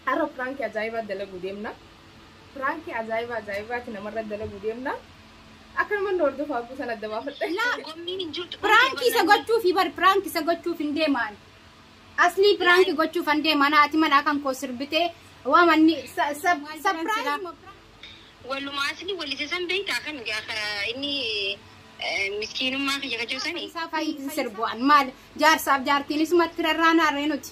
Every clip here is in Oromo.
Har'a prank ajaa'ibaa dalaguu deemna. Prank ajaa'ibaa ajaa'ibaati namarra dalaguu deemna. Akka nama nu hordofu hafuu san adda baafadhe. Laa gommiin hin jirtu. Prank isa gochuufi bar prank isa gochuuf hin deemaan. Aslii prank gochuuf hin deemaan haati manaa kan koo sirbitee waa manni sa- sa- surprise Walumaa asli walise san beektaa kan gaafa inni eh, miskiinummaa kiyya kajoo sani. isaa fayyi hin sirbu'an maal jaarsaaf jaartiinis matti rarraanaa reenuti.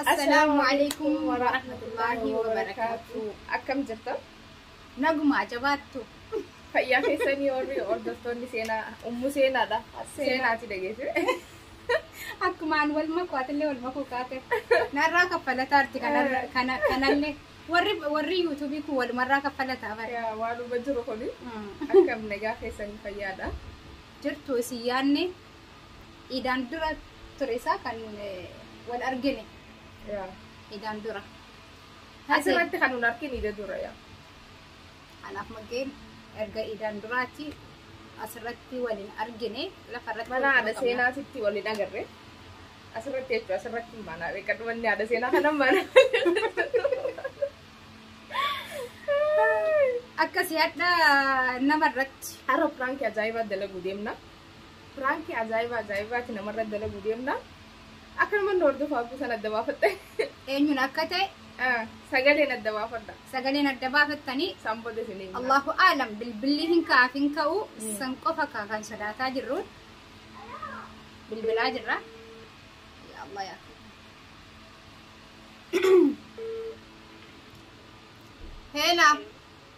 Assalaamu alaikum warahmatullaahi wabarakaatu. Akkam jirta? Nagumaa jabaattu. Fayyaa keessanii warri hordoftoonni seenaa ummu seenaadha. Seenaati dhageesse. Akkumaan wal makuu atillee wal makuu kaate. Narraa kaffalataa arti kanarra- kana- kanallee. Warri warri yuutuubii kun walumarraa kaffalataa bara. Yaa waanuma jiru kuni Mm. akkam nagaa keessanii fayyaadha. Jirtu isin yaanne Iidaan dura ture isaa kan wal argine. Yaa. Iidaan dura. Asirratti kan wal argine iida dura yaa. Anaaf maggeen erga iidaan duraatti asirratti waliin argine lafa irratti Mana waliin haadha qabna. seenaatitti waliin agarre. Asirratti jechuudha asirratti mana beekan manni haadha seenaa kana mana. Akkasii hadha nama irratti. Har'a piraankii ajaa'ibaa dalaguu deemna. Piraankii ajaa'ibaa ajaa'ibaati namarra dalaguu deemna. Akka namoonni hordofaa abduu sana adda baafatte. Eenyuun akka ta'e Ah, Sagaleen adda baafadha. sagaleen adda baafattanii Isaan booda isin eegna. Allahu aalam bilbilli hin ka'aaf hin ka'u Mm. san qofa ka- kan sodaataa jirru bilbilaa jirra. Ya Allah ya. Heela.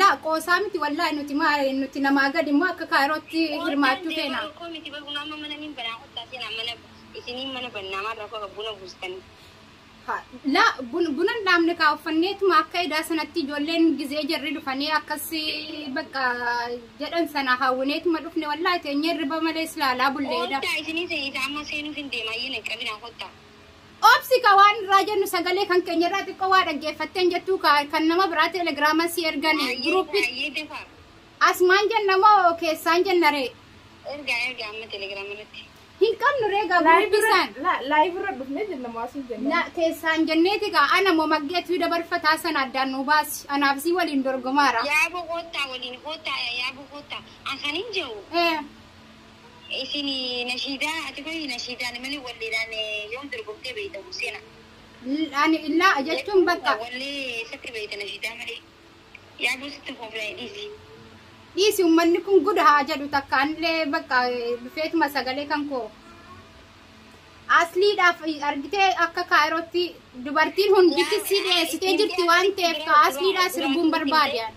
Laa qoosaa miti wallaahi nuti maa nuti namaa gadi immoo akka kaayirootti hirmaachuu feena. Koo miti bar bunaa amma mana niin banaa kottaa seenaa mana isiniin mana bannaa maal rakkoo qaba buna buustanii. Ha, Laa bun- buna hin dhaabne kaa uffanneetuma akka edaa sanatti ijoolleen gizee jarri dhufanii akkas bakka jedhan sana hawwineetuma dhufne wallaahi teenyee hirriba malee silaalaa bulleedha. Kottaa isiniin seenii isaa amma seenuuf hin deemaa iyyina qabinaa kottaa. Obsi ka waan irraa jennu sagalee kan keenya irraa xiqqoo waa dhaggeeffatteen jettuu ka kan nama biraa teelegiraaman si ergan guruuppis asmaan jenna moo keessaan jenna ree. Ergaa ergaa amma teelegiraama irratti. Hin qabnu ree gaa guruuppii saan. Laayiv irra dhufnee jenna moo asiin jenna. La keessaan jenneeti gaa ana moo maggeetu dabarfataa sana addaan nu baasi anaaf si waliin dorgomaara. Yaaboo hoottaa waliin hoottaa yaaboo hoottaa. An kan hin jedhu. Eh. Isini nashiidaa ati qoyi nashiidaani mali walleedhaani yoom dorgomtee beeyta Huseena? L- Ani illaa jechuun bakka Wallee eessatti beeyta nashiidaa malee? Yaaboo sitti kooflaa'e dhiisi. dhiisi ummanni kun guda haa jedhu takka anillee bakka eh, dhufeetuma sagalee kan koo asliidhaaf argitee akka kaayirootti dubartiin hundittis si dhiyeessitee jirti waan ta'eef ka asliidhaa sirbuun barbaade ani.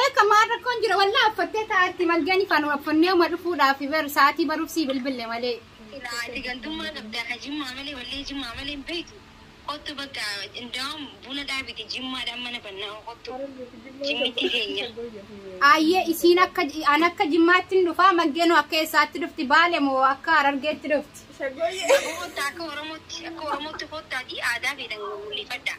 Eeka maal rakkoon jira wallaa affattee taa'atti malgani faan waffannee uma dhufuudhaaf bar sa'aatii baruuf sii bilbille malee. Silaa ati gandummaa qabdaa ka jimmaa malee wallee jimmaa malee hin beektu kottu bakka indaawam buna dhaabiti jimmaadhaan mana bannaa kottu jimmittii teenya. Ayyee isiin akka an akka jimmaatti hin dhufaa malgeenoo akka eessaatti dhufti baale moo akka harargeetti dhufti. Kottaa akka oromootti akka oromootti kottaatii aadaa feetan mul'ifadhaa.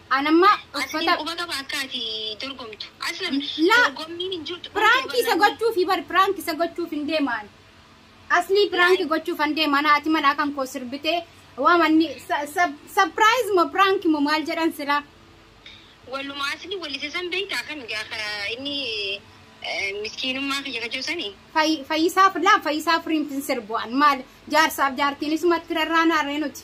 An amma Ati uffata quba qaba akka ati dorgomtu. Aslam Laa. dorgommiin hin jirtu. piraanki isa gochuufi bar piraanki isa gochuuf hin deemaan. Aslii piraanki gochuuf hin deemaan haati manaa kan koo sirbitee waamanni sapiraayiz moo piraanki moo maal jedhan silaa. Waluma asli walise san beektaa kan gaafa inni eh, miskiinummaa kiyya kajoo sanii. Fay- Fayyisaaf laa fayyisaaf riinfin sirbu'an maal jaarsaaf jaartiin isumatti rarraanaa ree nuti.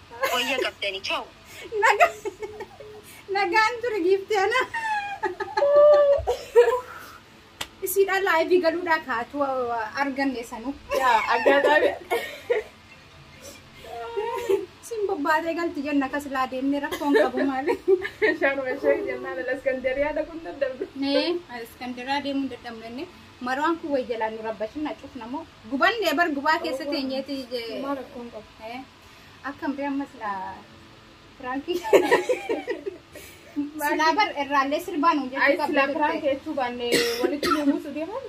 Wayya qabdani chaw. Naga nagaan ture giifti ana. Isiidhaan laayivii galuudhaa kaatu arganne sanuu. Yaa aggaataame. Siin bobbaatee galti jenna akkas laa deemne rakkoon qabu maali. Shaanuma ishee jennaan ala Iskandariyaa dhaquun dadhabde. Nee Iskandiraa deemuu hin dadhabne inni marwaan kun wayya laa nu rabbashin na cufna moo gubanne bar gubaa keessa teenyeeti. Maa rakkoon qabu. Eh, Akkam bee amma silaa piraankii. Silaa bar irraallee sirbaa nuun jechuu Ayi qabdu silaa turte. piraan keessuu baanne walitti nu buusu deeman.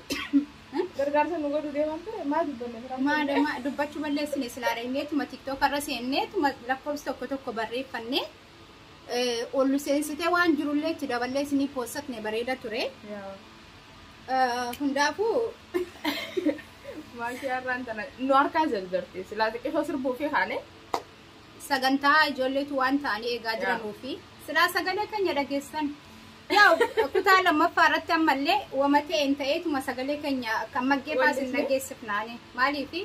Gargaarsa nu godhu deeman ture maal dubbanne piraan. Maada ma dubbachuu balleessine silaa dhagneetuma tiktook irra seenneetuma lakkoofsa tokko tokko barreeffannee eh, ol seensitee waan jirullee itti daballee isinii poosatne bareeda ture. Yaa. Eh, Hundaafuu Maashii har'aan tana nu harkaa jarjarte silaa xiqqishoo sirbuu fi kaane. sagantaa ijoolleetu waan ta'anii eegaa Yaa. jiranuu fi silaa sagalee keenya dhageessan. Yaa kutaa lammaffaa irratti ammallee wama ta'een ta'eetuma sagalee keenya kan maggeeffaas hin Wallisne. dhageessifnaani. Maaliifi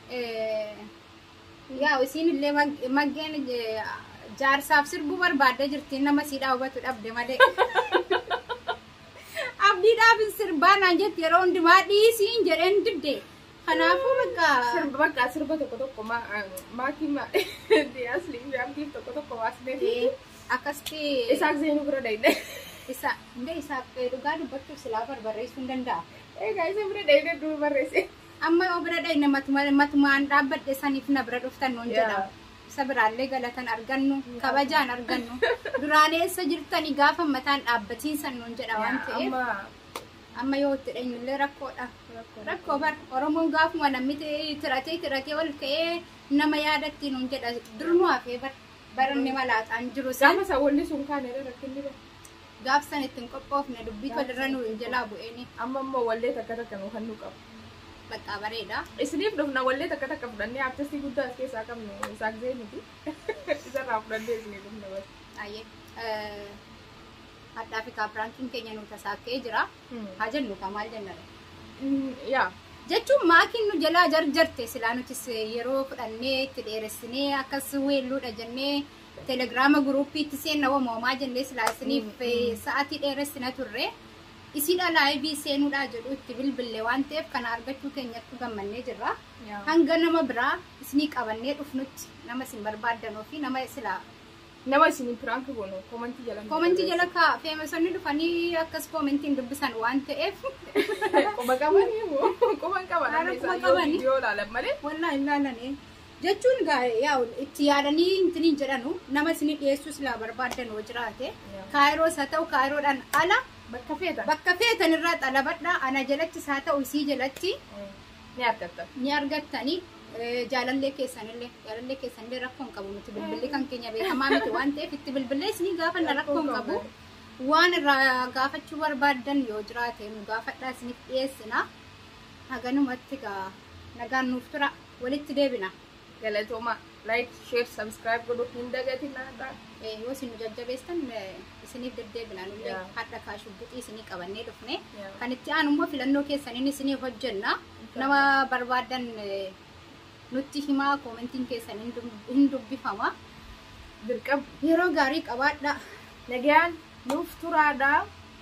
eh, Yaa isiin illee maggeen jaarsaaf sirbuu barbaadda jirti nama siidhaa hubatu dhabde malee. Abdiidhaaf sirbaa naan jetti yeroo hundumaa dhiisiin jedheen didde. Kanaafuu bakka. Sirba bakka sirba tokko tokko maatii maatii asliin fi abdiif tokko tokko waasnee fi akkasitti. Isaaq zeenuu bira dayne. Isa hundee isaaf dhugaa dubbachuuf silaa barbareessuu hin danda'a. Egaa isa bira dayne duuba barreesse. Amma yoo bira dhayne matuma matuma an dhaabbadhe saniif na bira dhuftan nuun Yaa. jedhama. Isa biraallee galatan argannu, kabajaan argannu. Duraan eessa jirtanii gaafa mataan dhaabbatiin san nuun jedha waan Yaa, ta'eef amma amma yoo itti dheenyullee rakkoodha. Rakkoo. Rakkoo bar Oromoon gaafuma namni ta'ee tiratee tiratee ol ka'ee nama yaadatti nuun jedha. Dur nu hafee bar baranni malaaxaan jiru san. Gaafa isa walli sun kaane irra rakkinni bara. Gaaf san itti hin qophoofne dubbii tol irra nu jalaa bu'eeni. Amma immoo wallee takka takka nu kennuu qaba. Baqqaa bareeda. Isiniif dhufna wallee takka takka fudhannee artistii guddaa as keessaa qabnu Isaaq Zeeniti. Isarraa fudhannee isiniif dhufna bas. Aye. Hadhaa fi kaapiraankiin keenya nu tasaakkee jira. Haa jennu kaa maal jenna dha. Yaa. Jechuun maakiin nu jalaa jarjarte silaa nutis yeroo fudhannee itti dheeressinee akkas weelluudha jennee Telegraama guruuppiitti seenna wama wamaa jennee silaa isiniif sa'atii dheeressina turre. Isiidha laayivii seenuudhaa jedhu itti bilbille waan ta'eef kana argachuu keenyattu gammannee jirra. Hanga nama biraa isinii qabannee dhufnutti nama isin barbaaddan ofii nama silaa Nama isiniin piraank goonu koomantii jala. koomentii jala kaa feemasonni dhufanii akkas koomentiin dubbisan waan ta'eef Quba qabanii moo? Quba hin qaban. Haala quba qabanii. Viidiyoo ilaalan malee. wallaa hin laalanee. jechuun gaa yaa itti yaadanii intiniin jedhanu nama isinii dhiyeessuu silaa barbaaddan hoo jiraate kaayiroos haa ta'u kaayiroodhaan ala bakka feetan bakka feetan irraa xalabadhaa ana jalattis haa ta'u isii jalatti ni argatta. ni argattani eh, jaalallee keessanillee jaalallee keessanillee rakkoo hin qabu nuti bilbilli kan keenya beekamaa miti waan ta'eef itti bilbillee isinii gaafanna rakkoo hin qabu waan irraa gaafachuu barbaaddan yoo jiraate nu gaafadhaa isiniif dhiyeessina haganumatti gaa nagaan nuuf tura walitti deebina. Galatooma like share subscribe godhu hin dagatinaa. Eh, yoo isin nu jajjabeestan eh, isiniif deddeebina nullee Yeah. hadha kaa shugguxii isinii qabannee dhufne Yeah. kan itti aanu immoo filannoo keessaniin isinii hojjenna nama barbaadan eh, nutti himaa koomentiin keessan hin dub- hin dubbifama Dirqama. yeroo gaarii qabaadha Nagaan nuuf turaadha.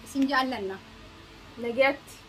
isin jaallanna Nagaatti.